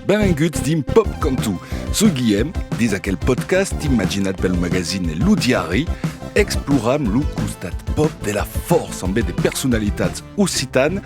Benvenguts dins Pop Cantu. Soi Guillem, dins aquel podcast imaginat pel magazine Lo Diari, exploram lo costat pop de la força en bé de personalitats occitanes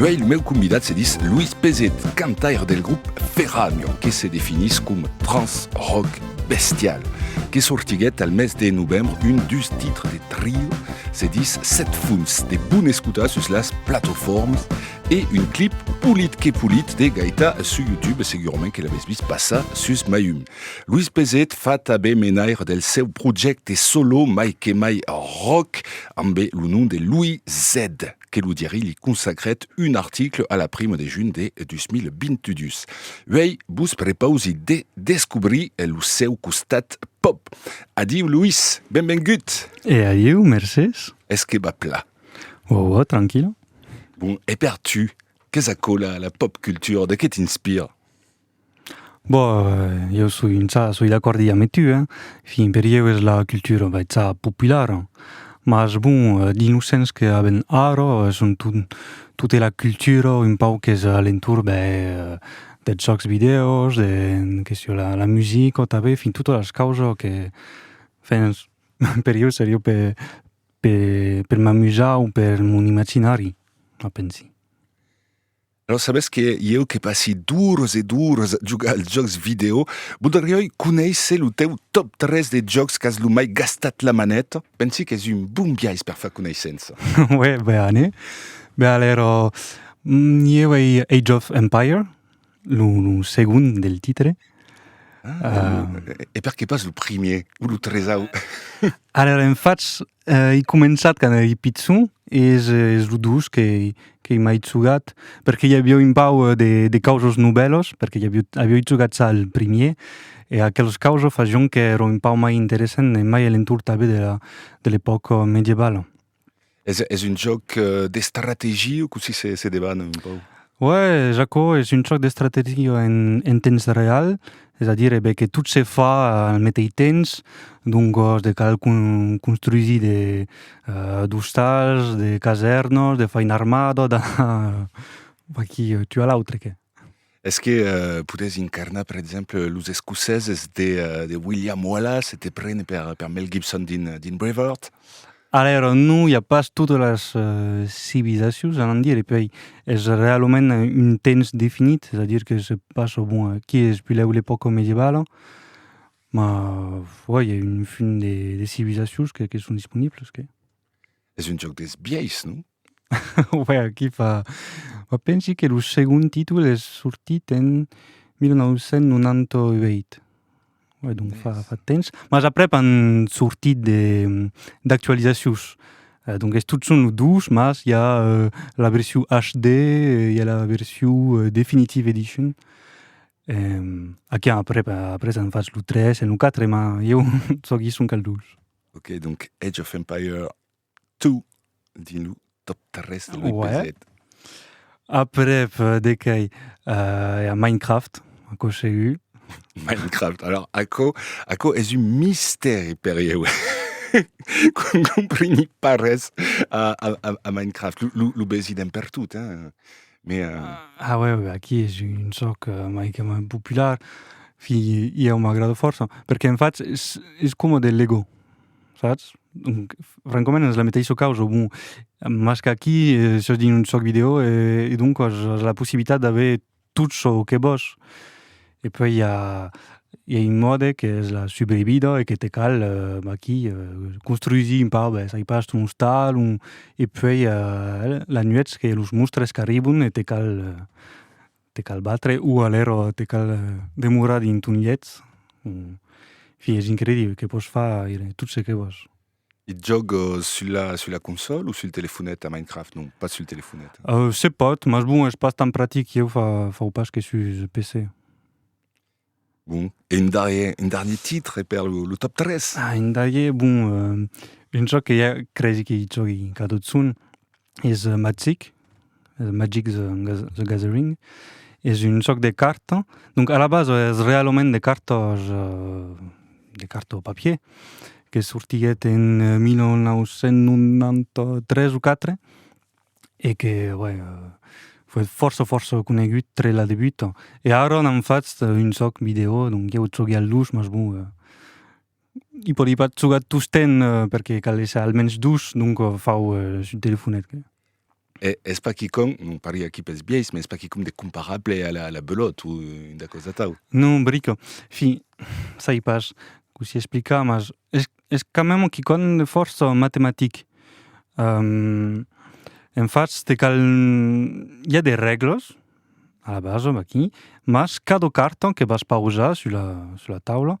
Uèi lo meu convidat se dis Luis Pezet, cantaire del grop Ferragno, que se definís com trans-rock bestial, que sortiguèt al mes de novembre un dus titres de trio, se dis Set Funs, de bon escotar sus las platofòrmas, e un clip polit que polit de gaita su YouTube, segurament que l'avètz vist passar sus Maum. Luis Pezet fa tabé menaire del seu projècte solo mai que mai rock, ambe lo nom de Louis Z. que lo diari li consacrèt un article a la prima de junh de 2022. Uèi vos prepausi de descobrir lo seu costat pop. Adiu Luis, benvengut! E adiu, mercés! Es que va pla? Uau, uau, tranquila. Bon, e per tu, qu'es aquò la, la pop culture? De qué t'inspire? Boh, io soi intzà soi d'acòrdi ame tu, eh. Fin per ieu es la cultura baitzà populara. Mas bon, dins lo sens que avèn ara, son ton- tota la cultura un pauc qu'es a l'entorn de dels jòcs vidèos, de que siá la musica tanben, fin totas las causas que fen per ieu seriá pe pe m'amusar o per mon imaginari, a pensi. Alòs sabètz que ieu que passi d'ores e d'ores a jogar als jòcs vidèo, voldriái conéisser lo teu top 3 de jòcs qu'as lo mai gastat la maneta? Pensi qu'es un bon biais per far coneissença. Uè, bene. Be alèro, ieu ei Age of Empire, lo segon del titre. Ah, e perqué pas lo primièr o lo tresau? Alèro, en fach, Ei començat quand ei pichon e es lo dos qu'ei mai jogat perque i avió un pau de causas novèlas perque i avió jogat ja al primier e aquelas causas facion qu'èra un pau mai interessant e mai a l'entorn tanben de l'epòca medievala. Es un jòc d'estrategia o cossí se demana un pau? Òe, es aquò, es un jòc d'estrategia en temps real es a dire ben que tot se fa al meteis temps, doncos de cal construsir de d'ostals, de casèrnos, de far una armada, de... vaquí, tu a l'autre qué? Es que podés incarnar per exemple los escoceses de William Wallace e te prene per Mel Gibson dins Braveheart? Alèra non i a pas totas las civilizacions, anam dire, e puèi es reaument un temps definit, es a dire que se passa, bon, aquí es puslèu l'epòca medievala, ma oi, i a un fum de civilizacions que son disponibles, que. Es un jòc dels biais, non? Uèi, aquí fa... Ua pensi que lo segond títol es sortit en 1998. Uèi, donc fa, fa temps. Mas aprèp an sortit de, d'actualizacions. Donc es totjorn lo 2, mas i a la version HD, i a la version Definitive Edition. Aquí aprèp, après an fach lo 3 e lo 4, ma ieu sò gison qu'al 2. Ok, donc Age of Empires Tu, di-lo tot tres de Louis Pezet. Aprèp de quai, i a Minecraft, aquò segur. Minecraft, alors aquò, aquò es un mistèri per ieu. Qu'n compreni pas res a, a, a, a Minecraft. Lo, lo, lo besi dempertot, hein. Mais, euh... Ah ouais, ouais, aquí es un jòc maigament popular, fi, ieu m'agrada fòrça, perque en fach es, es coma de Lego. sas? Donc, francament es la meteissa causa, bon, mas qu'aquí sos dins un sòc video e donc as la possibilitat d'aver tot çò que vòs e puèi i a un mòde qu'es la subrevidar e que te cal aquí construsir un pauc bèth, ai pas un ostal un... e puèi la nuèch que los monstres qu'arribon e te cal Te cal batre o alèro te cal demorar dins ton lhet. Fi, es incredible, que pòs far tot se que vòs. E jòg sul la, sul la consòl o sul telefonet a Minecraft? Non, pas sul telefonet. Se pòt, mas bon, es pas tan practic, ieu fa, fau pas que sus PC. Bon, e un darrier, un darnier titre per lo, lo top 3? Ah, un darrier, bon, uh, un joc que ja cresi que i jògui cada otzon es uh, Magic, uh, Magic the, the Gathering, es un joc de carta, donc a la base es realament de cartas, uh, de carta au papier, que sortiguèt en 1993 o 4, e que uè foi fòrça fòrça conegut tre la debuta e ara n'an fachs un sòc video donc ieu zoghi al dush mas bon i pòdi pas zogar tostemp perque cal èsser almens dush donc fau sul telefonet que. E es pas quicòm, non parli aquí pels biais, mas es pas quicòm de comparable a la, a la Belote o una causa atau. Non, brica. Fin, sai pas cossí explicar, mas es es quand même un quicòm fòrça matematic. En fach, te cal... I a de règles, a la basa, aquí, mas cada carta que vas pausar sus la taula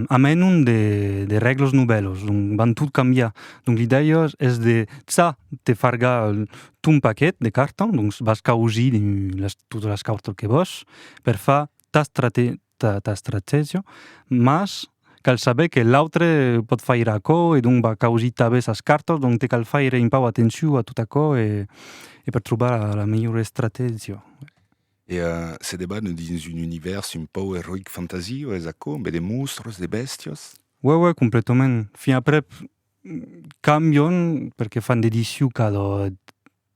amena de règles novèlas, donc van tot cambiar. Donc l'idèia es de ça te fargar ton paquet de cartas, donc vas causir totas las cartas que vòs per far ta ta estrategia, mas cal saber que l'autre pòt faire aquò e donc va causir tanben sas cartas, donc te cal faire un pauc atencion a tot aquò e e per trobar la melhora estrategia. E se debanan dins un univèrs un pauc eroic fantasy, es aquò? Ambé de mostras, de bèstias? Uè uè, completament. Fin aprèp cambian perque fan de disiu cada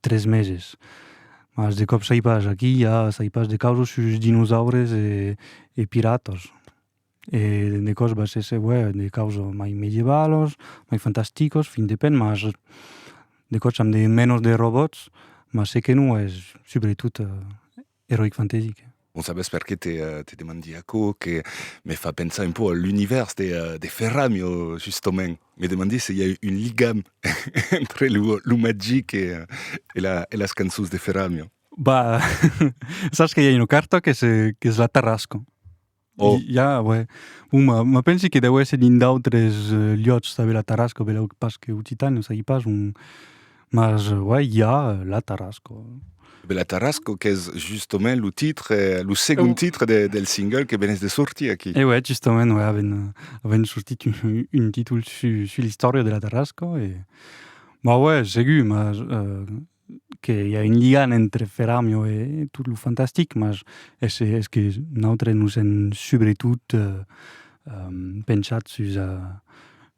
3 meses. Mas de còp sai pas, aquí i a sai pas de causos sus dinosaures e piratas. E de còps va se seguèr de causos mai medievalos, mai fantasticos, fin de pèn, mas de còps amb de mènos de robòts, mas se que non es subretot Heroic Fantasy, que? Non sabes per qué te demandi aquò, que me fa pensar un pauc a l'univèrs de Ferramio, justament. Me demandi se i a un ligam entre lo magic e las cançons de Ferramio. Bah, sas que i a una carta qu'es la Tarrasco. Oh. I, ja, ouais. Bon, ma, ma pensi que deu èsser dins d'autres eh, liòts de la Tarasco, beleu pas que Occitània, non sagi pas, un... mas, eh, ouais, i a eh, la Tarasco. Be la Tarasco qu'es justement lo titre, eh, lo segond titre de, del single que venès de sortir aquí. E ouais, justament, ouais, avèn, eh, avèn sortit un, un títol su, su l'istòria de la Tarasco e... Ma ouais, segur, mas eh, que i a un ligan entre Ferramio e tot lo fantastic, mas es es que nautres nos èm subretot pensat sus a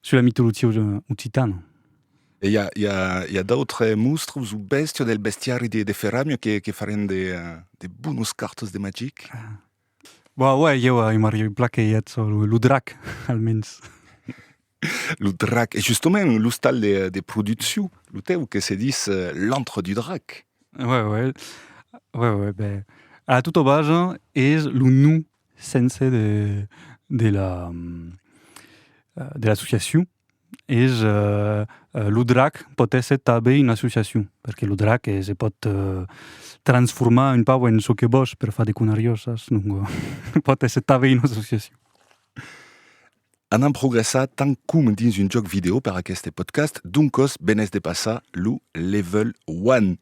sus la mitologia occitana. E i a i a i a d'autres mostres o bèstia del bestiari de de Ferramio que que farien de de bonos cartes de magic? Bah uèi, ieu i m'arribi plan que i ètz lo drac, almens. Lo drac, e justement l'ostal de produccion, lo tèu, que se dis l'antre du drac. Uè, uè, uè, uè, bè, a tota basa es lo nom sense de la, de l'associacion, es lo drac pòt èsser tanben una associacion, perque lo drac se pòt transformar un pauc en çò que vòs per far de conariosas, donc pòt èsser tanben una associacion. Anam progressar tant com dins un jòc video per aqueste podcast, doncos benés de passar lo Level One.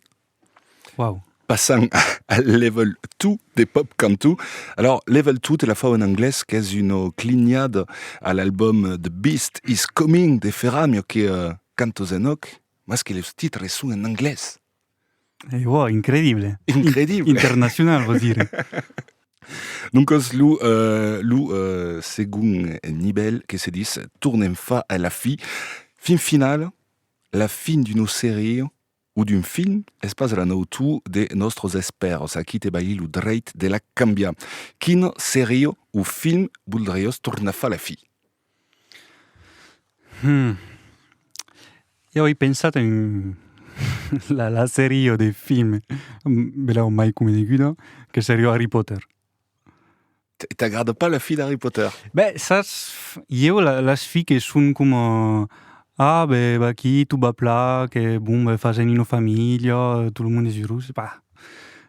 Wow. Passant al level 2 de Pop Cantu. Alors, level 2 te la fau en anglès, qu'es una clinhada a l'album The Beast is Coming de Ferramio, que uh, cantos en òc, mas que los titres son en anglès. Eh, wow, incredible. Incredible. In internacional, vos dire. Donc, le, euh, le euh, second nivell que se dit tournem fa à la fi. Fin finale, la fin d'une série o d'un film, es pas la nautu de nòstros espèrds a qui te balhi lo dreit de la cambiar. Quina seria o film voldriás tornar far la fi? Hum. I avei pensat a un la la seria de film bèla o mai coneguda que seria Harry Potter. T'agrada pas la fi d'Harry Potter? Ben, saps, ieu las fi que son coma... Ah, ben, va aquí, tot va plan, que bon, ben, fasen una familha, tot lo monde es eurós, bah,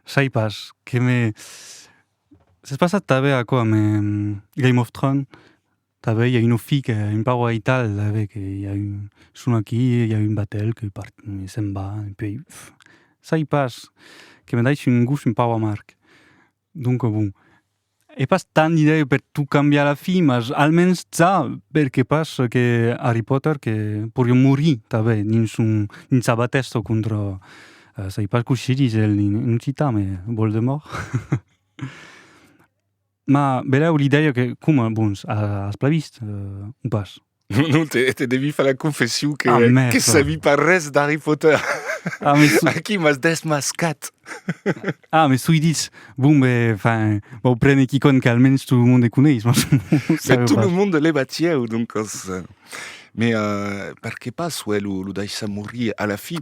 sai pas, que me... S'es passat tanben aquò amb Game of Thrones, tanben i a una fi que un pauc aital, tanben, que i a un... son aquí, i a un batel que part... se'n va, e puèi... sai pas, que me daissi un gost un pauc amarg. Donca bon, è pas tant d'idèi per tot cambiar a la fin, mas almens ça, perqué pas que Harry Potter que porion morir tanben dins son dins sa batèsta contra sai pas coish se ditz en en occitan me Voldemort ma belèu l'idèia que coma bon as pas vist o pas? Non, non, te, te devi far la confession que, ah, merde. que sabi pas res d'Harry Potter. Ah, mais sou... Aquí m'as desmascat. ah, mais sou dit. Bon, ben, enfin, bon, prene qui conne qu'almenys tout le monde les coneix. Mais tout pas. le monde les batieu, donc... Euh, mais euh, per que pas, ouais, lo, lo daissa mourir à la fin.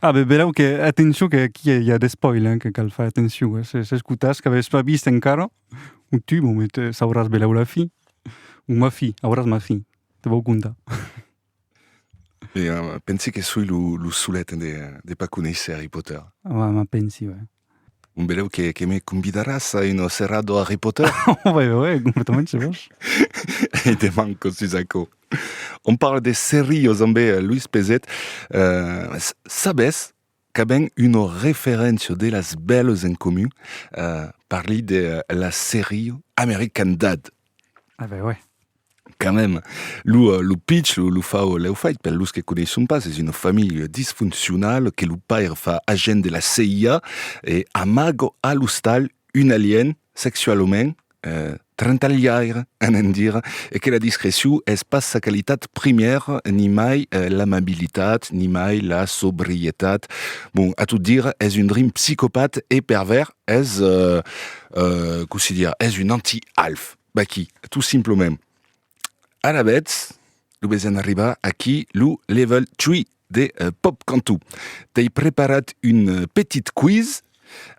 Ah, ben, ben, ok, attention, que aquí il y a des spoils, hein, que cal faire attention. Eh? C'est, c'est ce que t'as, que pas vist encara. Un tu mon me te sauràs belau la fin. O ma fin, auràs ma fin, te vau contar. Pensi que soi lo solet de pas conéisser Harry Potter. Ava, ma pensi, ue. Bon, belau que me convidaràs a una serrada Harry Potter? Ava, ue, ue, completament se vos. E deman quand sus aquò. On parle de serrios ambe Louis Pezet. Sabes, qu'a ben una referéncia de las bèlas en comun, eh, parli de la seria American Dad. Ah ben ouais. Quand même. Lo, eh, lo pitch, lo, lo fau, l'heu fait, per los que coneisson pas, es una familha disfuncional que lo paire fa agent de la CIA e amaga a l'ostal un alien sexualament Trantalhaire, anem dire, e que la discrecion es pas sa qualitat primièra, nimai l'amabilitat, nimai la sobrietat. Bon, a tot dire, es un drin psicopat e pervèrs, es, cossí dire, es un anti-Alf. Vaquí, tot simplement. Ara betz, lo besen arriba aquí lo level 3 de Pop Cantu. T'ei preparat un petit quiz,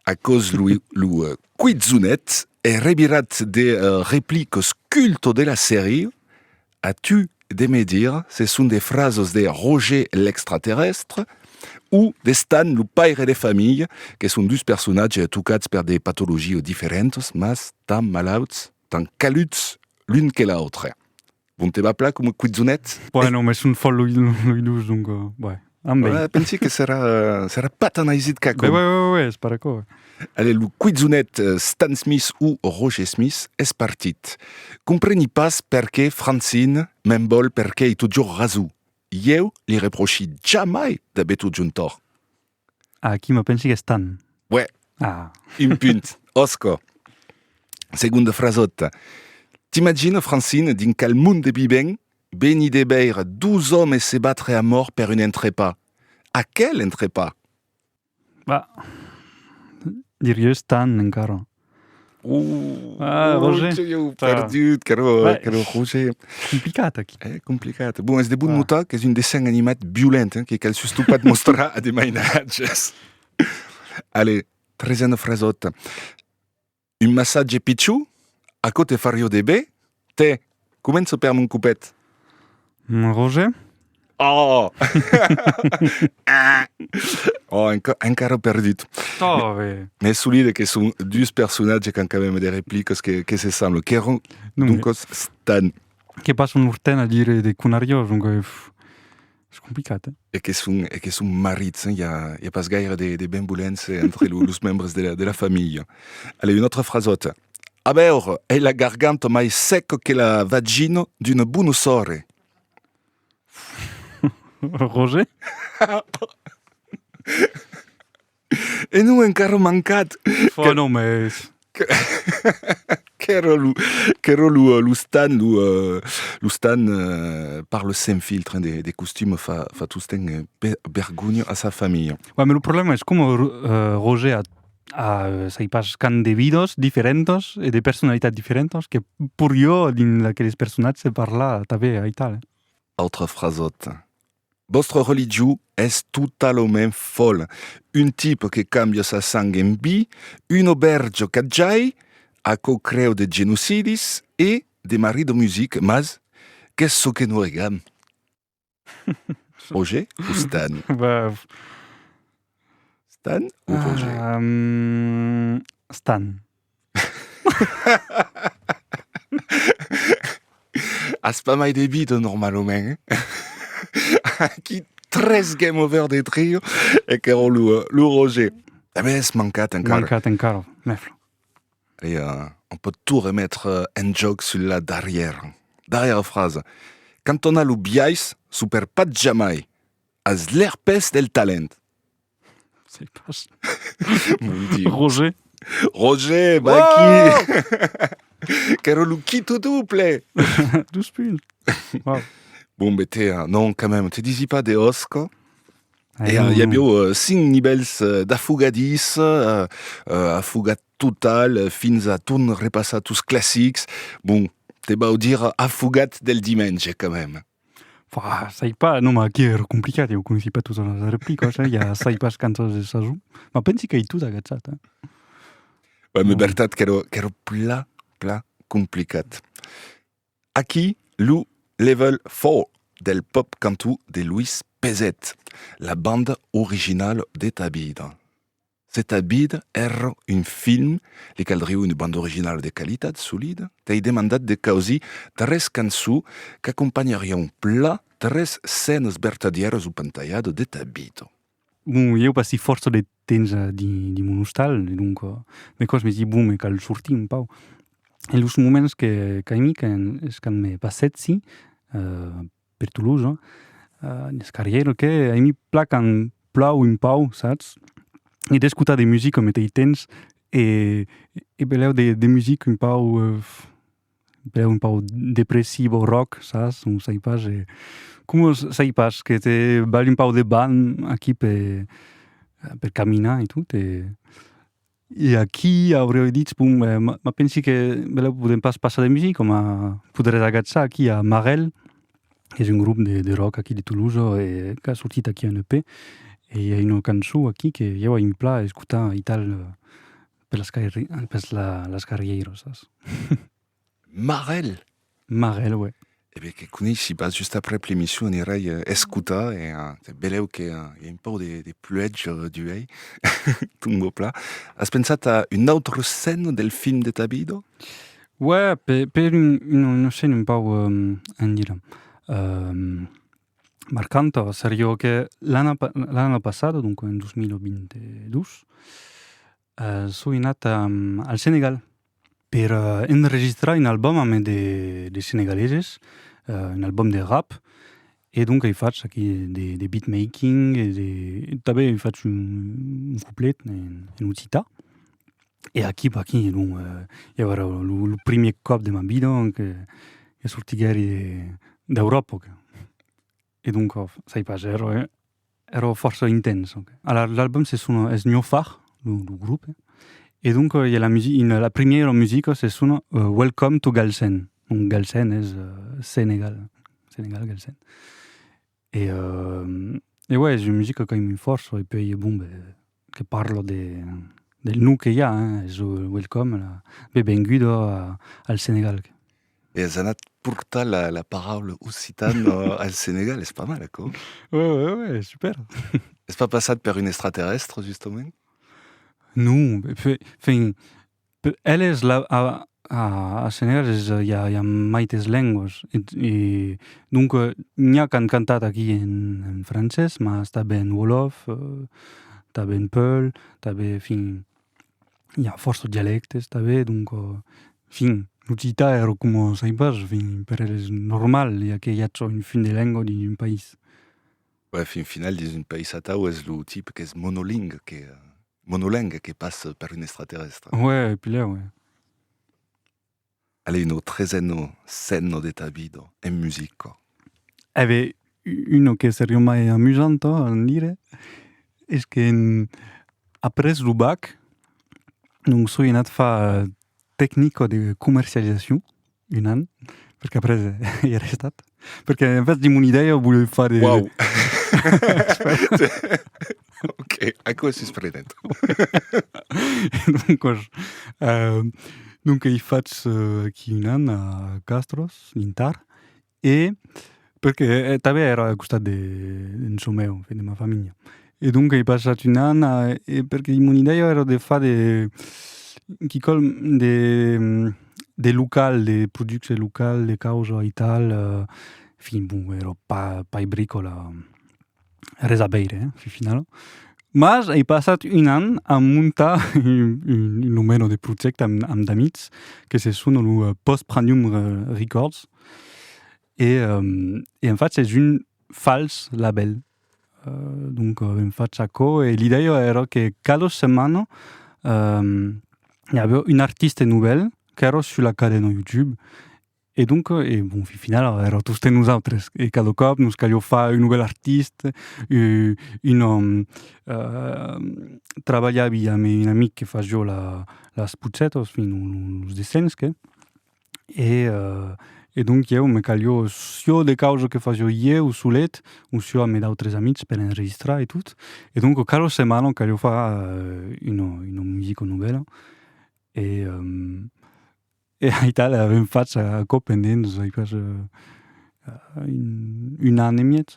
aquò's lo lo quizonet e revirat de replicos culto de la serie, a tu de me dir se son de frasos de Roger l'extraterrestre o de Stan lo paire de familha, que son dus personatges tocats per de patologies diferentas, mas tan malauts. tan caluts l'un que l'autre. Bon te va pla coma cuizonet? Buen, non, me son fòt loi dus, donc, buen, am ben. Buen, pensi que serà, serà pas tan aisit qu'aquò. Buen, buen, buen, es pas d'aquò. Allez, lo cuizonet Stan Smith o Roger Smith es partit. Compreni pas perqué Francine me'n vòl perqué ei totjorn rasou. Ieu li reprochi jamai d'aver totjorn tòrt. A aquí me pensi qu'es tan. Uè, Ah. un punt. Òsca. Segonda frasòta. T'imagina, Francine, dins qual mond de vivèm? Venir de veire dos òmes se batre a mòrt per un entrepà. A quel entrepà? Bah. Dir-i-es tan, encara. Uh, ah, Roger. Roger eu tá. perdut, que era, que era Roger. Complicat aqui. É complicat. Bom, és de bom ah. notar que és un dessin animat violent, hein, que cal sustot pas mostrar a de mainatges. Allez, tresena frasota. Un massatge pitjor, a côté fario de bé, Te, començo per mon copet. Mon Roger? Oh! oh, enca encara perdut. Tove! Me solide que son dus personatges qu'an quand même des répliques que, que se semblent, que ron, donc, stan. Que pas un urten a dire de conariós, donc... Es complicat, eh? E que son, e que son marits, hein? I a, i a pas gaire de, de benvolence entre lo, los membres de la, de la familha. Allez, una autra frasota. A veure, ei la garganta mai seca que la vagina d'una bona sòrre. Roger? E non encara mancat! Fa non mes! Qu'èra lo, qu'èra lo, lo Stan, lo, lo Stan par le Sem Filtre, hein, de, de costum fa, fa tostemp be, bergonha a sa familha. Ouais, mais le problème es coma Roger a, a sai pas quand de vidas diferentas e de personalitats diferentas que pur jo dins aqueles personatges se parla tanben aital. Autra frasòta. Vòstre religion es totalament fòla. Un tipe que cambia sa sang en vi, un obèrge qu'at jai, aquò creu de genocidis e de marit de music, mas qu'es çò que non regam. Roger Fustan. Stan ou Roger euh, Stan. As pas mai de vida normalament. Aquí tres game over de trio e que era lo, eh, lo Roger. Eh ben, es mancat encara. Mancat encara, mefla. Allez, euh, on peut tout remettre euh, en joc sur la darrière. Darrière phrase. Quand on a lo biais, super pas jamais. As lèr pes del talent. Sei pas. Mon Dieu. Roger. Roger, va aquí. Qu'èra lo quito double. Dos punts. Wow. Bon, be te, euh, non, quand même, te disi pas de osca. Ah, e, non, uh, i aviu uh, cinc nivèls uh, d'afogadís, uh, uh, afogat total, uh, fins a torn repassar tus classics. Bon, te vau dire afogat del dimenge, quand même. Bah, sai pas, non, ma aqui èra complicat, eu conoissi pas totas las replicas, eh, i a sai pas quantas de sason, ma pensi qu'ei tot agatzat, eh. Bah, me vertat qu'èra, qu'èra plan, plan complicat. Aquí, lo Level Four del Pop Cantó de Louis Pezet, la banda originala de Tabida. Se ta vida èra un film, li caldriu una banda originala de qualitat, solida, qu'ei demandat de causir tres cançons qu'acompanharián plan tres scènas vertadièras o pantalhadas de ta vida. Bon, ieu passi fòrça de temps dins de mon ostal e donc me còs me di, bon, me cal sortir un pauc. E los moments que qu'aimi qu'es quand me passètzi per Toulouse, es qu'arrière que a mi placan plan un pau, satz? E d'escotar de musica au meteis temps e e belèu de de musica un pau belèu un pau depressiva o rock, sas? Non sai pas e coma sai pas que te balhi un pau de banh aquí pe per caminar e tot e E aquí aurioi ditz, bon, ma pensi que belèu podem pas passar de music, coma poderètz agatzar aquí a Marelle, qu'es un grop de rock aquí de Tolosa e qu'a sortit aquí un EP, e i a una cançon aquí que ieu a un plan escotar aital per las carrieiras. Marel! Marel, uè. E ben que coneissi pas, just aprèp l'emission anirai escotar e belèu que i a un pau de pluèja d'uèi, tomba plan. As pensat a una autra scène del film de ta vida? Uè, per una scène un pau, an dire, marcanta seriá que l'ana passada, donc en 2022, Soi anat al Senegal per enregistrar un album ambe de senegaleses, un album de rap, e donc ai fach aquí de beat making e de tanben ai fach un couplet en occitan. E aquí pas aquí donc i abarà lo primier còp de ma vida que sortiguèri d'Euròpa. E donc ò, sai pas, ero ero fòrça intens. Alara l'album se sona Esnhofar, lo lo grup, e donc i a la musi una la primièra musica se sona Welcome to Galsen, donc Galsen es Senegal, Senegal Galsen. E e uèi es una musica qu'aimi fòrça e puèi bon ben que parlo de del nom que i a hein es lo welcome la bebenguda al Senegal. E as anat portar la paraula occitana al Senegal, es pas mal aquò. Ue ue ue es super. Es pas passat per un extraterrèstre justament? Non, enfin Per eles, la, a, a, as senhèrs es ja, ja maites lengües. E, e donc, n'i a qu'an cantat aquí en, en francés, mas tanben en wolof, tanben en peul, tanben, enfin, i a fòrça dialèctes tanben, donc, enfin, l'occitan ero coma sai pas, enfin, per eles es normal, ja que ja çò un fin de lengua d'un país. Bèi, fin final, dins un país atau es lo tipe qu'es monolingue que, monoleng que passa per un extraterrestre. Uè, e pilhèu, uè. Allez, uno trezeno senno de ta vida, en musica. Eh bè, uno que se riomai amusant, ò, a dire, es que après lo bac, donc soi anat far tecnico de comercializacion, un an, perque après i è restat, perque en fait dimmi un'idèia o volevi far... Wow! ok, aquò es susprenedo. donc, euh, donc i fats uh, qui un an a Castros, in Tar, E perque tanben èra al costat de en çò meu, en fin, de ma familha. E donca ei passat un an e perque mon idèia èra de far de quicòm de de local, de producte local, de causa e tal, en fin, bon, èra pas pas bricòla res a veire, eh, fin finau. Mas ei passat un an a montar un, un numero de projècte amb, amb d'amics, que se sona lo eh, Post Pranum Records, e, um, e en fach es un fals label. Uh, donc, uh, en fach aquò, e l'idèia èra que cada setmana um, i aviá un artiste novèl qu'èra sus la cadena YouTube, E donc, e bon, fin final, era tosten nosautres, e cada còp nos calhó far un novèl artist, un òm, trabalhar aviá a me un amic que fas jo la, las putzetos, fin los dessins que, e e donc ieu me calhó siò de causa que fas jo ieu solet, o siò a me d'autres amics per enregistrar e tot, e donc cada setmana calhó far una, una musica novèla e E aital avèm fach aquò pendent dus ai pas un an e mièg,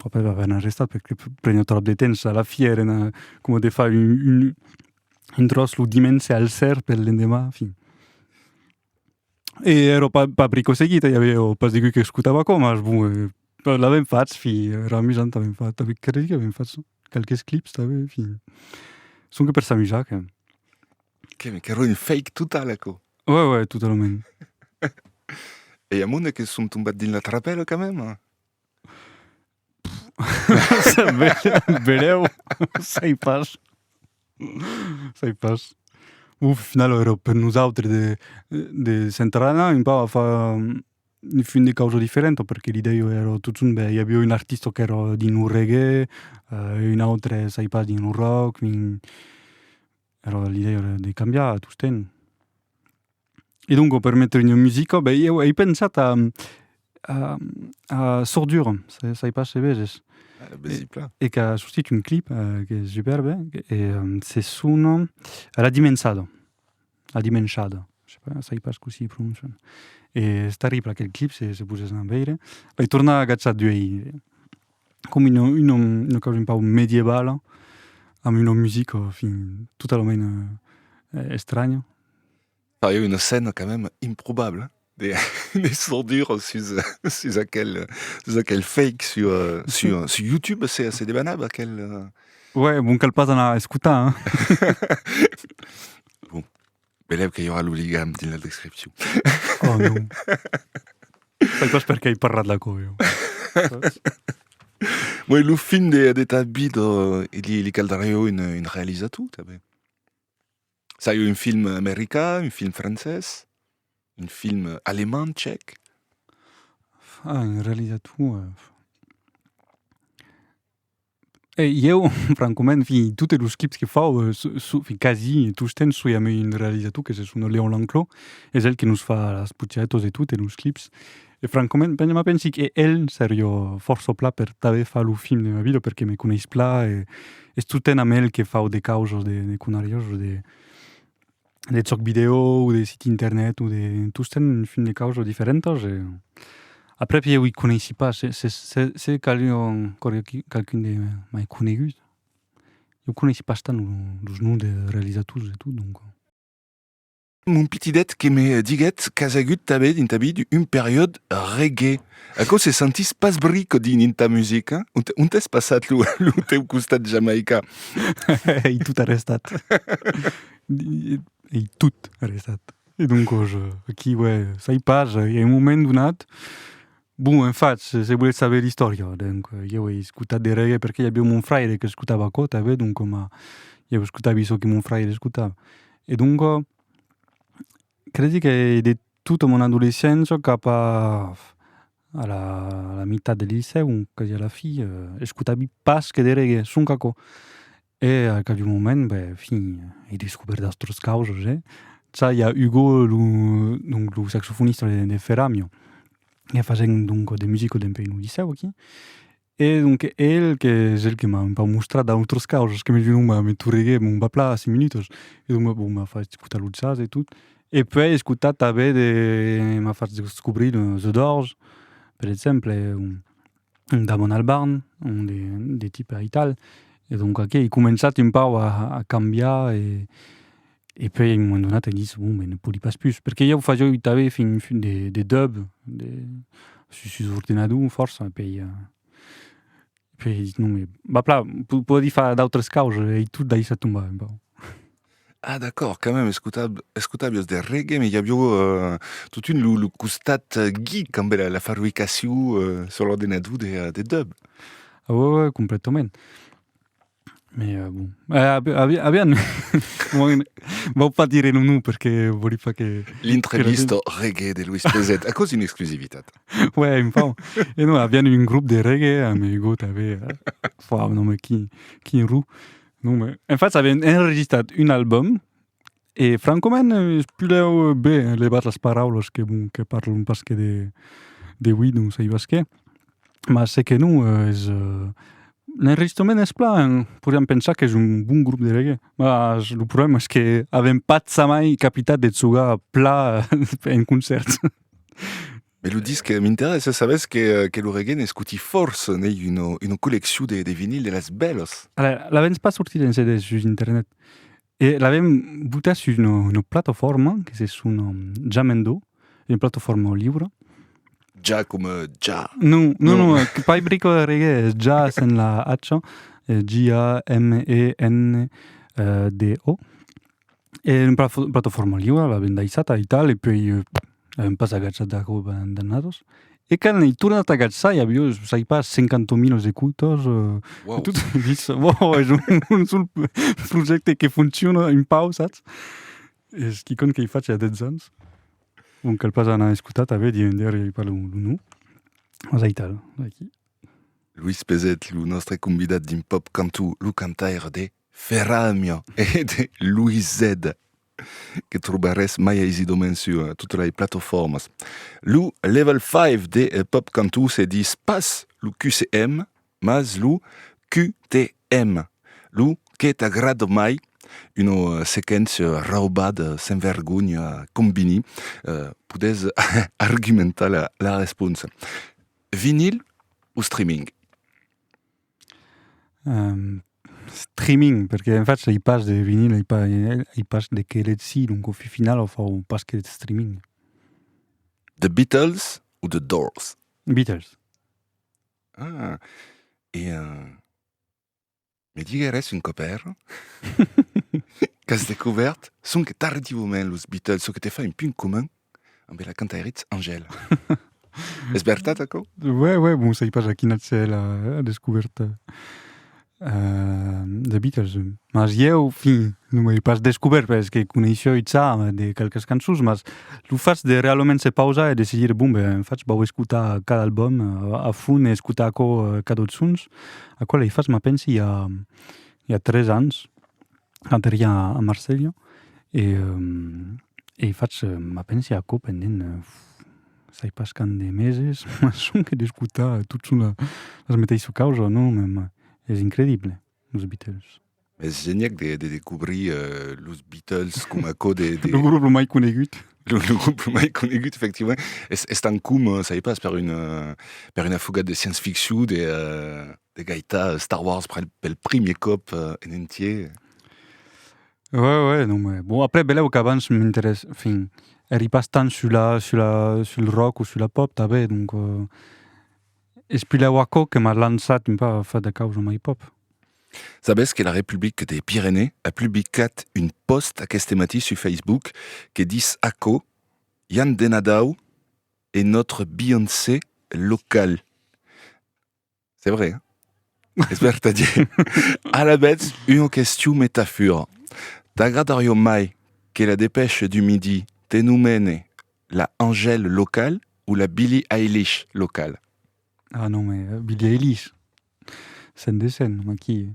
après va avè'n arrestat per que prena tròp de temps a la fièr e na coma de far un un tròç lo dimenge al ser per l'endemà, enfin. E ero pas pas brico seguit, i avèu pas degut que escotava aquò, mas bon, l'avèm fach, fin, era amusant, avèm fach, credí qu'avèm fach qualques clips tanben, enfin, sonque per s'amusar. Qu'èra un fake total aquò. Oi, oi, totalament. E amont e que som tombat dins la trapèla quand même? Verèu, sai pas. Sai pas. Au final èra per nosautres de de s'enterrar anar un pauc a far un fin de causa diferenta perque l'idèia èra totun bèi, i aviá un artista qu'èra dins lo reggae, un autre, sai pas, dins lo rock, un Era l'idèia era de cambiar tostemp. E donc per metre ua musica, ben ieu ei pensat a a Sordura, sai pas se veges. E qu'a sortit un clip qu'es superbe e se sona La Dimensada, La Dimenshada, sai pas cossí prononcian. E es terrible aquel clip, se se posèssan a veire. L'ai tornat a agachar d'uei. com una, una, una causa un pau medievala, amb una musica fin totalament eh, estranya. Pariá una scèna quand même improbable, de, de sordur sus, sus aquel, sus aquel fake sur, sur, sur YouTube, se, se debanava aquel... Ouais, bon cal pas anar escotar, hein. bon. Velèu que i aurà lo ligam dins la descripcion. Oh non. Sai pas per qué i parlat la coviu. Moi, lo fin de, de ta vida, li, li caldariu un, un realizator, també. Sai un film americà, un film francès, un film alemán, tchèc. Ah, un realizator... E ieu, francoment, fin, totes los clips que fau, fin, quasi, tostemps soi ameu un realizator que se sona Léon Lanclos, es el que nos fa las putiaetos de tot e los clips. E francoment, ben, me pensi que el serio fòrça pla per tanben far lo film de ma vida perque me coneis pla e es tostemps amb el que fau de causas, de conariós, de... de chòc vidèo o de siti internet o de tostemps un fin de causas diferentas e après pièu i coneissi pas se se se se qu'avián core qui qualqu'un de mai conegut lo coneissi pas tant los noms de realizators e tot donc. Mon pitidet que me diguèt qu'as agut tanben dins ta vida un periòd reggae. Aquò se sentís pas bric dins dins ta musica? Ont ont es passat lo lo teu costat jamaica? Ei tot arrestat. Ei tot arrestat. E doncos, aquí uè, sai pas, a un moment donat, bon, en fach, se voletz saber l'istòria, donc, ieu ei escotat de reggae perque i aviá mon fraire qu'escotava aquò tanben, donc coma ieu escotavi çò que mon fraire escotava. E doncos, cresi qu'ei de tota mon adolescéncia cap a la mitat del licèu, quasi a la fi, escotavi pas que de reggae, sonque aquò. E a qualhun moment, be, fin, ei descubèrt d'autras causas, eh? Ça, i a Hugo, lo, donc, lo saxofonista de, de Feramio, que fasèm, donc, de musica dempè un licèu aquí, e, donc, el, qu'es el que m'a un pauc mostrat d'autras causas, que me vin, me, me torreguèt, bon, va plan, cinc minutas, e donc, bon, m'a fait escotar lo jazz e tot, e puèi escotar tanben de, m'a fait descobrir The Doors, per exemple, e, bon. Damon Albarn, un de, de ti per Ital. E donca que ei començat un pau a, a cambiar e, e puei a un moment donat ei ditz, bon, ben, ne podi pas pus. Perque ieu fajò ui t'avei fin, fin de, de dub, de, sus, sus ordenador fòrça, puei, puei ei ditz, non, me, ba plan, po, podi far d'autras causas, ei tot daissat tombar un pau. Ah d'acòrd, quand même escota escotavios de reggae me i avió eh totun lo lo costat geek ambé la la fabricacion eh sur l'ordenador de de dub. Ah ouais ouais complètament. Me eh bon eh avi avi avián vau pas dire lo nom perque voli pas que L'intrevista reggae de Luis Peset aquò es una exclusivitat. Ouais un pauc e non avián un grop de reggae amegot avé eh fòu non me quin quin ru Non, mais en fait, avèm enregistrat un album e francament es pudèu ben levar las paraulas que, bon, que parlon pas que de, de ui, non saibas qué. Mas se que non, es, l'enregistrament es plan, podiam pensar qu'es un bon grop de reggae. Mas lo problèma es que avèm pas jamai capitat de jogar plan en concèrt. Me lo dis que m'interessa, sabes que, que lo reggae n'escuti força, n'ei una, una colleccion de, de vinil de las bèlas. Ala, l'avèms pas sortit en CD sus internet. E l'avèm botat sus una, una plataforma que se sona Jamendo, una plataforma liura. Ja coma ja. Non, non, non, non que pas brico de reggae, es ja sen la H, J-A-M-E-N-D-O. E un prato formalliu a la bendaissata e tal, e puei avèm pas agatzat d'aquò d'annados, e quand ei tornat a agatzar i aviá, sai pas, cinquanta milas de coutors, e tot, e ditz, uòu, es un sol projècte que fonciona un pau, sas? Es quicòm qu'ei fach ja dètz ans, bon, cal pas anar a escotar tanben, diem ender, ei pas lo nom, mas ei tal, ei aquí. Luis Peset, lo nòstre convidat dins Pop Cantu, lo cantaire de Ferramia e de Luizedda que trobarès mai aisidament sur totas las platofòrmas. Lo Level 5 de Pop Cantó se dis pas lo QCM, mas lo QTM, lo que t'agrada mai, una sequéncia rauba de senvergonha combini, podètz argumentar la responsa. Vinil o streaming? Streaming, perque en fach ei pas de vinil, ei pas ei pas de qué letzi, donc au final o fau pas que deth streaming. The Beatles ou The Doors? Beatles. Ah, e me digueres un còp er qu'as descobèrt sonque tardiuament los Beatles, çò que te fa un punt comun Amb la cantairitz Angèle. es vertat aquò? Ouais, ouais, bon, sai pas a quina c'est la descouverte euh, des Beatles. Mas ieu, fin, non m'ai pas descobert, parce que coneisseu ça de quelques cançons, mas lo fas de realment se pausar e de se dire, bon, ben, en fach, vau escutar cada album a fond e escutar aquò, cad'autre sons, aquò l'ai fas, ma pensi, i a, i a tres ans, Aterria a Marselha e e fach ma pensi aquò pendent sai pas quand de meses, ma sonque d'escotar tot son la la meteissa causa, non me me es incredible los Beatles. M'es geniac de de descobrir los Beatles coma aquò de de lo grup lo mai conegut, lo lo grup lo mai conegut efectivament, es es tant com sai pas per una per una fugat de science-ficcion de de gaitar euh, Star Wars pel, pel primier còp euh, en entier. Ouais, ouais, non, mais bon, après, beleu qu'abans m'interesse, enfin, eri pas tant sur la, sur la, sur le rock ou sur la pop, tabé, donc, euh, es pileu aquò que m'a lançat un peu a faire de causa mai pop. Sabes que la Republique des Pyrénées a publicat un post aquest matí sur Facebook que dis aquò, Yann Denadau est notre Beyoncé local. C'est vrai. Hein? Es vertadier. Alavetz, una question metafura. T'agradarió mai que la dépêche du midi te nomene la Angèle locale ou la Billie Eilish locale Ah non, mais euh, Billie Eilish. Sen de sen, aquí.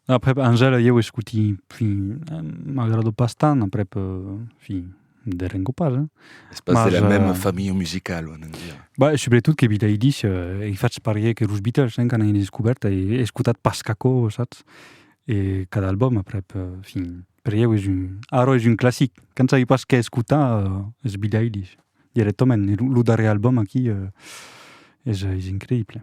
Après, Angèle, eu escuti, fin, euh, m'agrado pas tant, après, euh, fin, de Ringo Paz. Es pas de la même famille musicale, on en dit. Bah, sobretot que Billie Eilish, eh, faig parier que los Beatles, hein, quand han descobert, he escotat pas caco, saps? E cada album aprèp, fin, per ieu es un, ara es un classic. Quand sabi pas qué escotar, es Billie Eilish, directament. E lo darrier album aquí, es increible.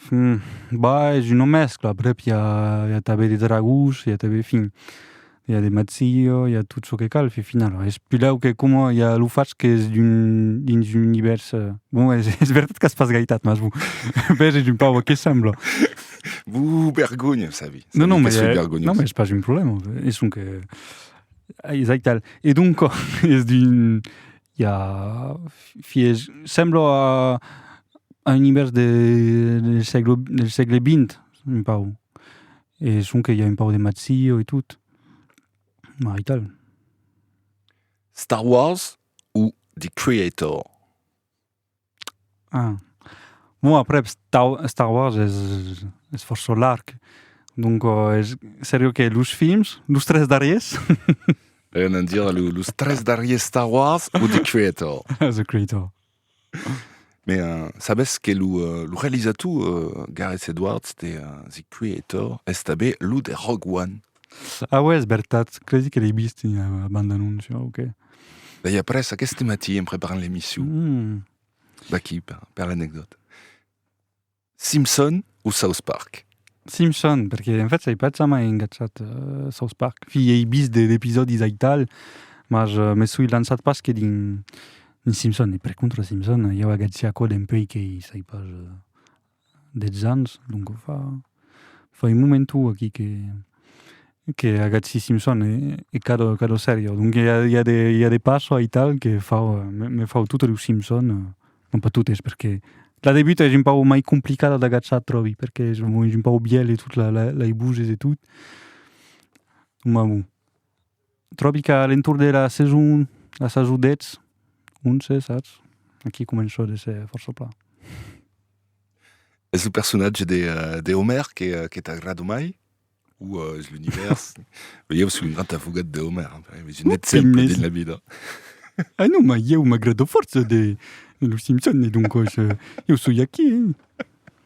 Fin, bah es una mescla, aprèp i a i a tanben de dragons, i a tanben fin, i a de mazzillo, i a tot çò que cal, fin finau es pilau que coma i a lo fach qu'es d'un dins un univèrs, bon es es vertat qu'as pas gaitat mas bon ben es un paua que sembla. Buh bergonha sabi, sabi non non que soi bergonhós. Non mais es pas un problèma, es sonque ai es aital e doncas es d'un Ja, fies, semblo a a un univèrs de del sègle del sègle vint, un pau. E sonque i a un pau de matzio e tot, maital. Star Wars o The Creator? Ah. Bon aprèp Star Wars es fòrça larg, donc es seriu que los films, los tres darriers? Ven a dire los tres darriers Star Wars o The Creator? The Creator. Mais uh, sabes que lo, uh, lo realizator uh, Gareth Edwards de uh, The Creator est abé lo de Rogue One. Ah ouais, es vertat, cresi que l'ai vist en ua banda annóncia, ok. Bèi après, aqueste matí, en preparant l'emission, mm. d'aquí, per, per l'anecdòta. Simpson o South Park? Simpson, perché en fait sai pas jamai engatjat uh, South Park. Fi, ei vist de, d'episòdis aital, mas uh, me soi lançat pas que dins, dins Simpson. E per contra Simpson, i au agatgi aquò dempuèi qu'ei, sai pas... Uh, dètz ans, donc fa, fa un momentu aquí que, que agatzi Simpson e, e cadò, cadò sèria. Donc i a, i a de, i a de passo aital que fau, me, me fau totes los Simpson, non pas totes, perque la debuta es un pau mai complicada d'agatzar, tròbi, perque es un pau bièlh e tot, la, la, lai buzes e tot, ma bon. Tròbi qu'a l'entorn de la saison, la sason 10, 11, saps? Aquí començò de ser fòrça plan. Es lo personatge de, de Homer que, que t'agrada mai? Ou es l'univers? Beh, ieu soi un grand afogat de Homer, es un exemple dins la vida. Ah non, ma ieu m'agrada fòrça de, de los Simpson, e doncòs, ieu soi aquí, eh!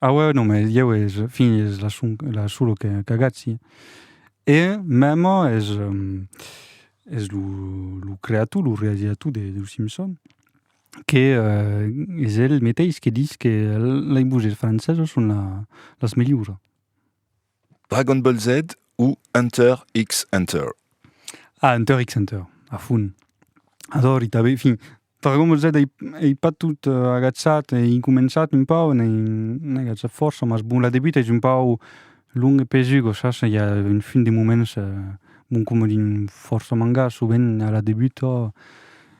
Ah ouais, non, mais ieu es, fin, es la, son, la solo que, qu'agatzi. E mèma es, es lo, lo creator, lo realizator de, de Simpson, que eh, es el meteis que dis que lei bouses franceses son la, las melhora. Dragon Ball Z o Hunter x Hunter? Ah, Hunter x Hunter, a fond. Adori tanben, fin, Dragon Ball Z ei, ei pas tot agaçat, ei començat un pau, n'ei, n'ei agaçat fòrça, mas bon, la debuta es un pau long e pesuga, sas, i a un fin de moments, bon, coma dins fòrça mangàs, sovent a la debuta,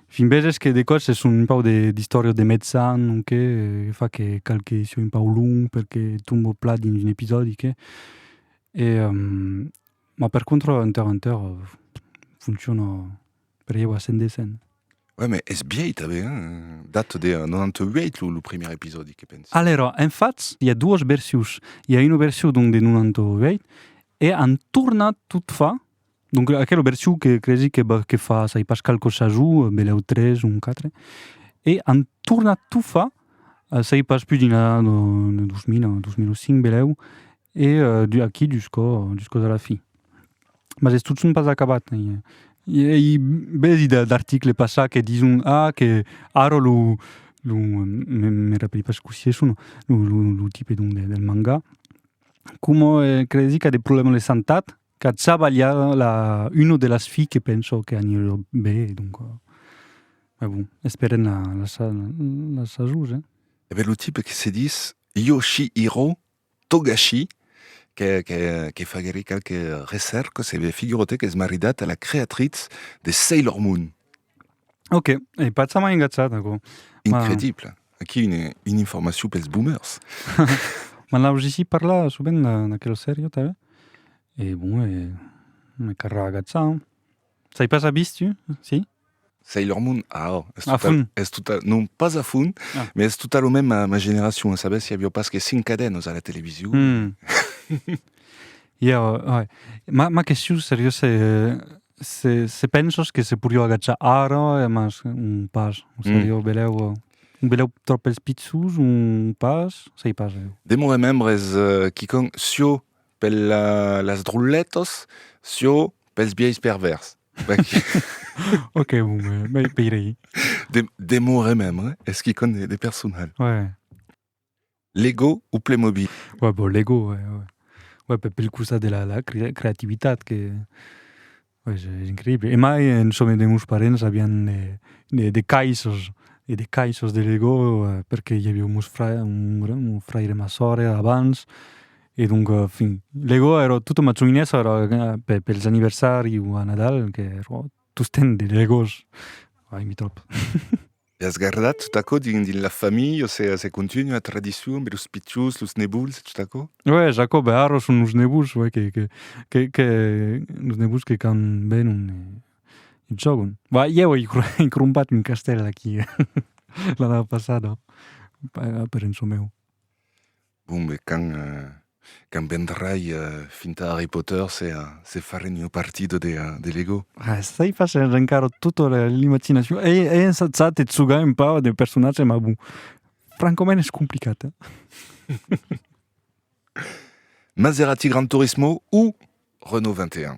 Fin veges que de còps se son un pau de d'istòrias de metzan o qué, que fa que cal que sieu un pau long perque tombo plan dins un episòdi qué. E ma per contra enter enter fonciona per ieu a 100%. Uèi, ma es biei tanben, hein? Date de 98 lo lo primièr episòdi que pensi. Alèra, en fach, i a duas versius. I a una versiu donc de 98 e an tornat tot far Donc aquela version que cresi que ba que fa sai pas qual cosa jo beleu tres un quatre e an tornat tot fa sai pas pus dins la de 2000 o 2005 beleu e du aquí dus cò dus còs a la fin mas es tot son pas acabat i ei bèsi de d'article passat que dison ah que ara lo lo me me rapelhi pas cossí es son lo lo lo tipe donc del manga coma cresi qu'a de problèmas de santat Qu'atza balha la uno de las filles que penso que anirò be e donc mai bon esperem la la sasour eh. E ben lo tipe que se dis Yoshihiro Togashi que que que faguèri qualques recèrcas e ben figura-te qu'es maridat a la creatritz de Sailor Moon. Ok, e pas sa mai engatjat, aquò. Incredible. Aquí une, une informacion pels boomers. Ma la Rogici parla sovent d'aquel serio, t'avè? E bon, e... me carra agatzar. Sai pas a bis, tu? Si? Sailor Moon, ah, oh, es a fond. Es total, non, pas a fond, ah. mais es total o même ma, ma generacion. Sabes, i avió pas que cinc cadenas a la television. Mm. Ieu, uèi. Ma, ma question seriosa ei, se, se penses que se porió agachar ara e mas un pas, o se jo belèu, o belèu tròp pels pichons, un pas, sei pas jo. Demorem membres, quicòm, siò per la, las drolletas, siò pels biais pervèrs. Ok, bon, ben, ben ei peirei. Demorem membre, es quicòm de, de personal. Uèi. Lego ou Playmobil? Ouais, bon, Lego, ouais, ouais. Ouais, per, pel costat de la, la creativitat que... Ouais, es, es increïble. E mai, en çò de meus parents avián de, de, de caisses, e de caisses de Lego, perque i aviá meus fra, mon fraire e ma sòrre abans, e donc, fin, Lego era tota ma coinessa era pe, pels anniversari o a Nadal, qu'era tostemp de Legos. Ai, mi tròp. L'as gardat tot aquò dins la familha, o sea, se continua la tradicion per los pichons, los nebuls e tot aquò? Uèi, Jacob, e ara son los nebuls, uèi, que, que, que, que, los nebuls que quand venon e, e jògon. Bah, ieu ei ei crompat un castèl aquí, l'ana passada, per en çò meu. Bon, e quand quand vendrai finta Harry Potter se se farem ua partida de de Lego. Ah, estai fasent rencar tota l'imaginacion. Ei ei ensajat e tzugar un pauc de personatge, ma bon, francament es complicat, eh? Maserati Gran Turismo o Renault 21?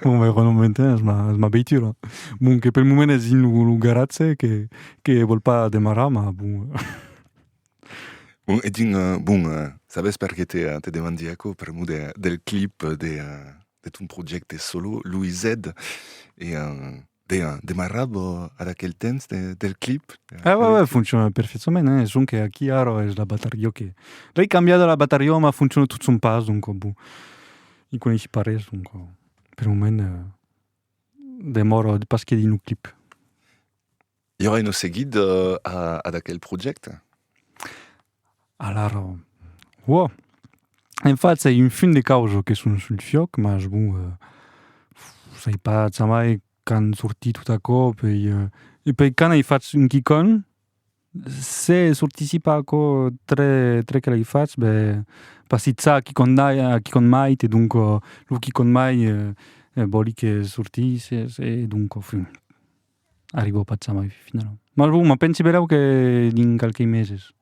bon, mai Renault Mountain es ma, es ma veitura. Bon, que pel moment es in lo, lo garatge que, que vol pas demarrar, ma bon... Bon, e din, uh, bon, uh, sabes per que te, uh, te demandi aquò? Per mo de, del clip de, uh, de ton projecte solo, Louis Z, e... Uh, Deia, demarrava ad aquel temps de, del clip. Ah, ouais, ouais, foncciona perfectament, hein? son que aquí ara es la batarió que... L'ai cambiada la batarió, ma foncciona tot son pas, donc bon, i coneissi pas res, donc per moment demòra pas que dins lo clip. I aurà un seguit ad aquel projècte? Alara, uò, en fach ei un fin de causa que son sul fiòc, mas bon, sai pas jamai qu'an sortit tot a còp ei e pei quand ei fach un quicòm, se sortissi pas aquò tre tre que l'ei fach, ben passizza a quicòm dai a quicòm mait e donca lo quicòm mai vòli que sortisse e donca fin. Arribò pas jamai finalament. Mas bon, me pensi berèu que dins qualques meses.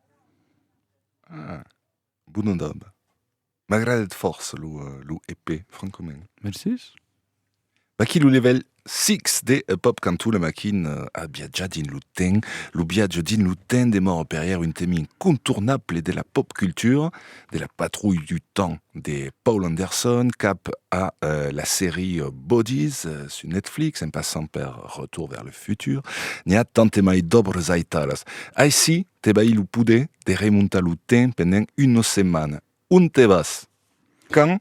Ah, bona dab. M'agradèt fòrça lo EP, francament. Mercés. Vaquí lo level 6 de Pop Cantola Maquin a viatjar dins lo temps. Lo viatge dins lo temps demòra per ièr un temi incontornable de la pop cultura. de la patrouille du temps de Paul Anderson cap a euh, la sèrie Bodies euh, sur Netflix, en passant per Retour vers le futur, n'hi a tant e mai d'òbres aitalas. Aicí, te baí lo poder de remontar lo temps pendent una setmana. On te vas? Quand?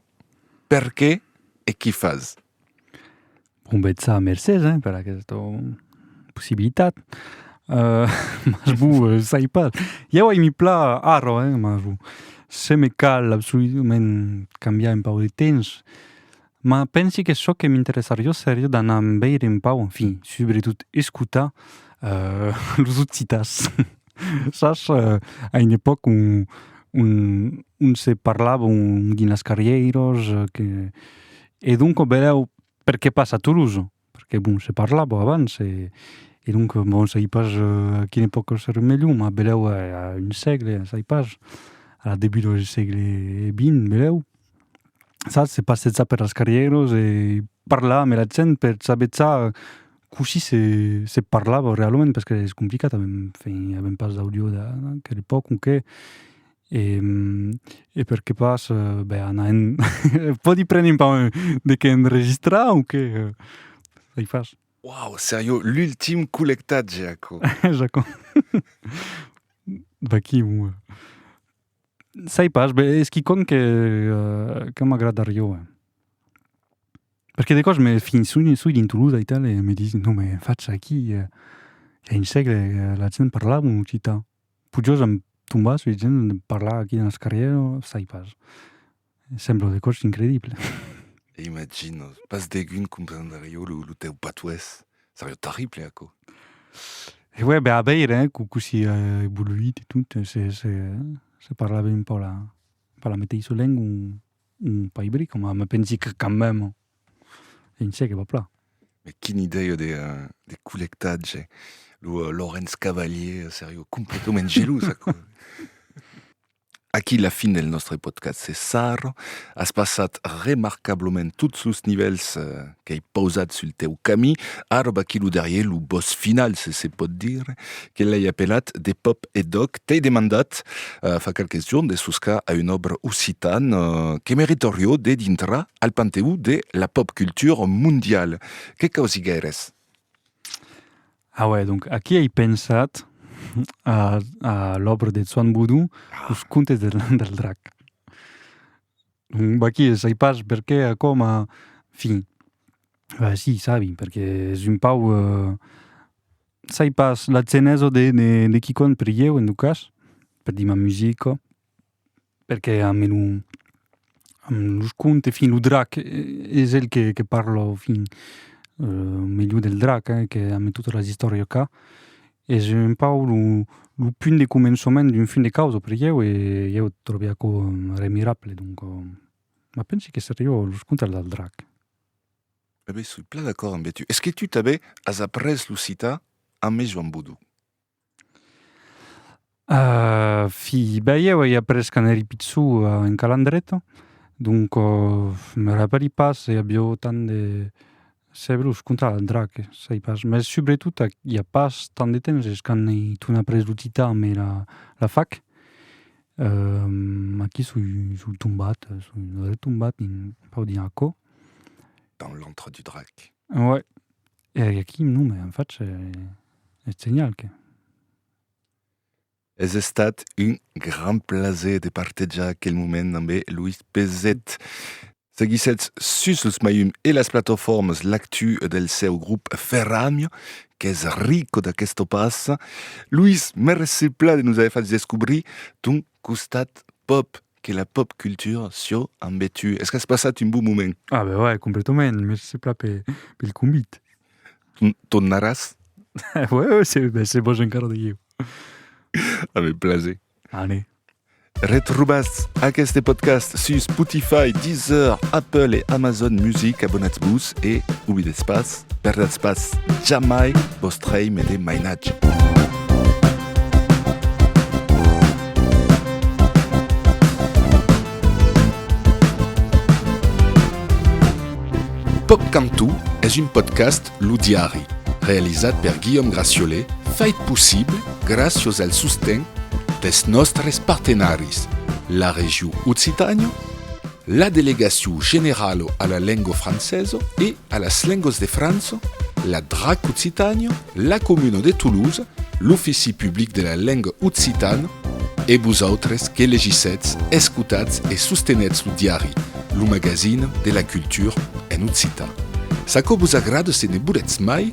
Perqué? E qu'i fas? Bon betza mercés hein per aquesta possibilitat. Euh mas bon sai pas. Jau ai mi plan arro hein mas bon se me cal absoludament cambiar un pau de temps. Ma pensi que çò que m'interessarió serió d'anar veire un pau, enfin subretot escotar euh los occitans. Sas a un epòc on on se parlava dins las carrièiras que E donc o belèu per qué pas a Tolosa? Perqué bon se parlava abans e e donc bon sai pas a quina epòca se remelhon ma belèu a a un sègle sai pas a debut dau sègle vint belèu sas se passètza per las carrieras e parla ame la gent per sabetzà cossí se se parlava realment perqué es complicat avèm enfin avèm pas d'audio da da quel epòca o qué. E e per que pas ben anar en pòdi prene un pauc de qué enregistrar o qué? Ei fas. Wow, seriós, l'ultim collectatge aquò. J'aquò. D'aquí ua. Sai pas, ben es quicòm que que m'agradarió. Perque de còps me fin soi soi dint lo aital e me disent non me facha aquí, ja un sègle la gent parlava en occitan. Pujós en tombar sus gent de parlar aquí dans carrièr sai pas. Sembla de còrs incredible. Imagino. Pas degun comprendrió lo teu patuès. Serió terrible aquò. E uèi be a veire cossí a evoluit e tot se se parla ben pas la meteissa lenga un paibri coma me pensi que quand même. En çè que va plan. Mais quina idèia de, de collectatge. Lo uh, Laurens Cavalier seriá completament gelós aquò. Aquí la fin del nòstre podcast se sarra. As passat remarcablament tots los nivèls uh, qu'ai pausat sul teu camí. Ara va quiluderier lo boss final, se se pòt dire. que l'ai apelat De Pop e Doc, t'ai demandat fa qualques jorns de soscar a un òbre occitan que meritorió de dintrar al panteó de la pop culture mondiale. Que causi gaires? Auè, donc, aquí ei pensat a l'òbre de Zwan Boudou, Los contes del drac. Vaquí, sai pas perqué, coma, enfin, si, sabi, perqué es un pau... Sai pas, la genèsa de de quicòm per ieu en tot cas, per dimar musica, perque a me lo a me los conte, fin lo drac es el que que parla fin melhor del drac eh que a me tota las istòria ca, es un pau lo lo punt de començament d'un fin de causa per ieu e ieu tròbi aquò remirable, donca ma pensi que seriá los contes del drac. Abé, soi plan d'acòrd ambe tu. Es que tu tabé as après lo citar amé Joan Bodou? Ahh fi, ben ieu ai après quand eri pichou en Calandreta, donc me rapèli pas se i avió tant de sebrus, contra l'andrà que sai pas, mès subretot ac i a pas tant de temps es quand ei ton après lo citar amé la fac, ahh aquí soi soi tombat, soi retombat dins, pòdi dir, aquò. dans l'antre du drac. Ouais. E aquí non me en faig eth senhal que... Es estat un gran plaser de partejar aquel moment amb Louis Pezet. Seguissètz sus los maium e las plataformas l'actu del seu grup Ferramio, qu'es rico d'aquesta passa. Louis, merci pla de nos aver fach descobrir ton costat pop Que la pop culture sieu ambe tu. Es qu'as passat un bon moment? Ah ben ouais, completament. Merci pla pe, pel convit. Tornaràs? ouais, ouais, se, ben, se vos encara de ieu. Ave plaser. Allez. Retrobas aqueste podcast sus Spotify, Deezer, Apple e Amazon Music. Abonatz-vos e oblidetz pas Perdatz pas jamai vos trei me de mainatge. Pòc Cantó es un podcast Lo Diari, realizat per Guillaume Graciole, fait possible gràcios al sosten dels nòstres partenaris, la Regió Occitània, La Delegacion Generalo a la Lengo Franceso e a las Lengos de França, la drac Occitània, la Comuna de Toulouse, l'Ofici Public de la Lenga Occitana, e vosautres que legissetz, escotatz e sostenètz lo diari, lo magazin de la cultura en occitan. S'aquò vos agrada se ne volètz mai,